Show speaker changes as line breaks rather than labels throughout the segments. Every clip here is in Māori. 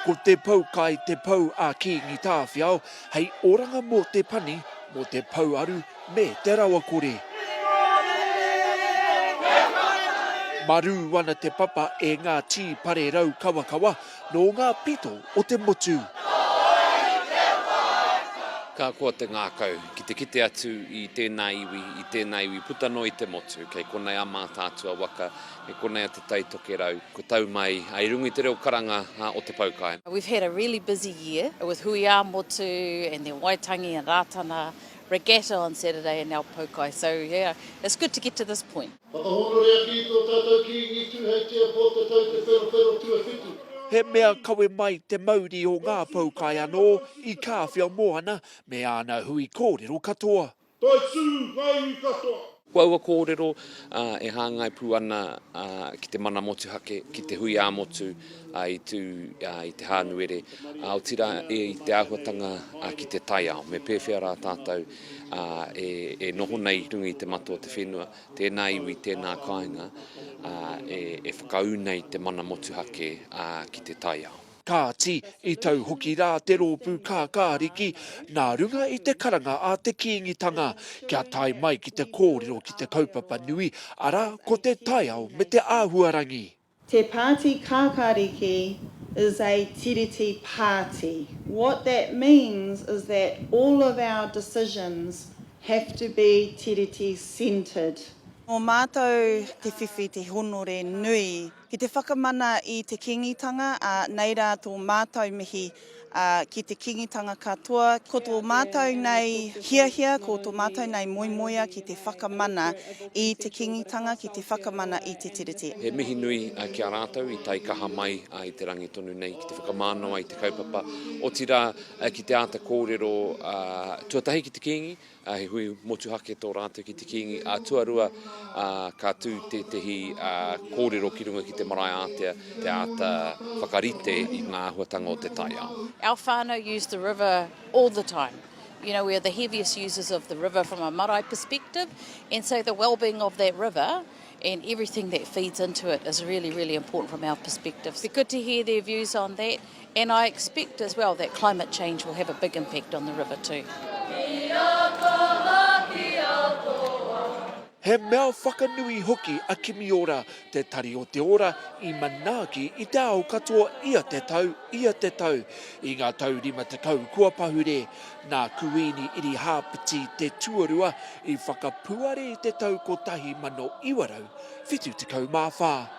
Ko te pou kai te pou a Kingi Tāwhiao hei oranga mō te pani, mō te pouaru me te rawakore. Marū ana te papa e ngā tī pare rau kawakawa, Nō ngā pito o te motu.
Ka koa te ngākau ki te kite atu i tēnā iwi, i tēnā iwi puta noa i te motu. Kei konei a Mātaatua waka, kei konei a Te Tai Tokerau. Ko tau mai, i runga i te reo karanga o Te Poukai. We've had a really busy
year with Hui ā Motu and then Waitangi and Rātana Regatta on Saturday and now Poukai so yeah it's good to get to this point. Whakahōnore ake i tō tātou Kīngi Tūheitia
Pōtatau Te Wherowhero Tuawhitu. He mea kawe mai te mauri o ngā poukai anō i Kāwhia Moana me āna hui kōrero katoa. Toi tū ngā iwi katoa!
Ko aua kōrero e hāngai pū ana ki te mana motuhake, ki te hui ā-motu i tū i Te Hānuere, otirā i te āhuatanga ki te taiao. Me pēwhea rā tātou ā, e, e noho nei i runga i te matua o te whenua, tēnā iwi, tēnā kāinga, ā, e, e whakaū nei te mana motuhake, ā, ki te taiao. Kāti,
i tau hoki rā te rōpū Kākāriki, nā runga i te karanga a te Kīngitanga, kia tae mai ki te kōrero ki te kaupapa nui, arā, ko te taiao me te āhuarangi. Te Pāti
Kākāriki is a Tiriti Pāti. What that means is that all of our decisions have to be Tiriti centred. Nō
mātou te whiwhi te honore nui. Ki te whakamana i te Kīngitanga, ā, nei rā tō mātou mihi ā, ki te Kīngitanga katoa, ko tō mātou nei hiahia, ko tō mātou nei moemoea ki te whakamana i te Kīngitanga, ki te whakamana i te Tiriti. He mihi nui
ki a rātou i taikaha mai i te rangi tonu nei ki te whakamānawa i te kaupapa, otirā ki te āta kōrero tuatahi ki te Kīngi, He hui motuhake tō rātou ki te Kīngi ā tuarua, ā, ka tū tētehi kōrero ki runga ki te marae ātea te āta whakarite i ngā āhuatanga o te taiao. Our whānau use
the river all the time. You know, we are the heaviest users of the river from a marae perspective and so the wellbeing of that river and everything that feeds into it is really, really important from our perspective. It'd be good to hear their views on that. And I expect as well that climate change will have a big impact on the river too.
He mea whakanui hoki a Kimi Ora, te Tari o te Ora, i manaaki i te ao katoa ia te tau, ia te tau. I ngā tau rima tekau kua pahure, nā Kuini Irihāpeti te tuarua i whakapuare i te tau 1974.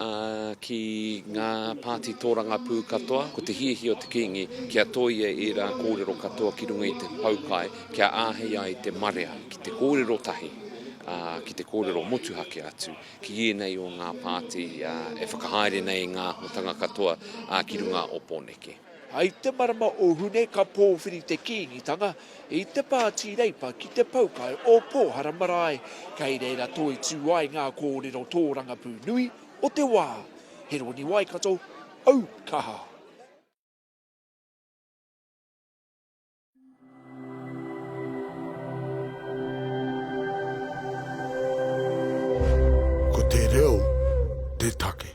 ā, ki ngā pāti tōrangapū katoa, ko te hiahia o te Kīngi kia tōia ērā kōrero katoa ki runga i te poukai kia āhei ai te marea ki te kōrero tahi, ā, ki te kōrero motuhake atu ki ēnei o ngā pāti e whakahaere nei i ngā āhuatanga katoa ki runga o Pōneke. I te marama
o Hune ka pōwhiri te Kīngitanga i te Pāti Reipa ki te Poukai o Pōhara Marae, kei reira toitū ai ngā kōrero tōrangapū nui o te wā. Heroni Waikato, Aukaha. Ko te reo te take.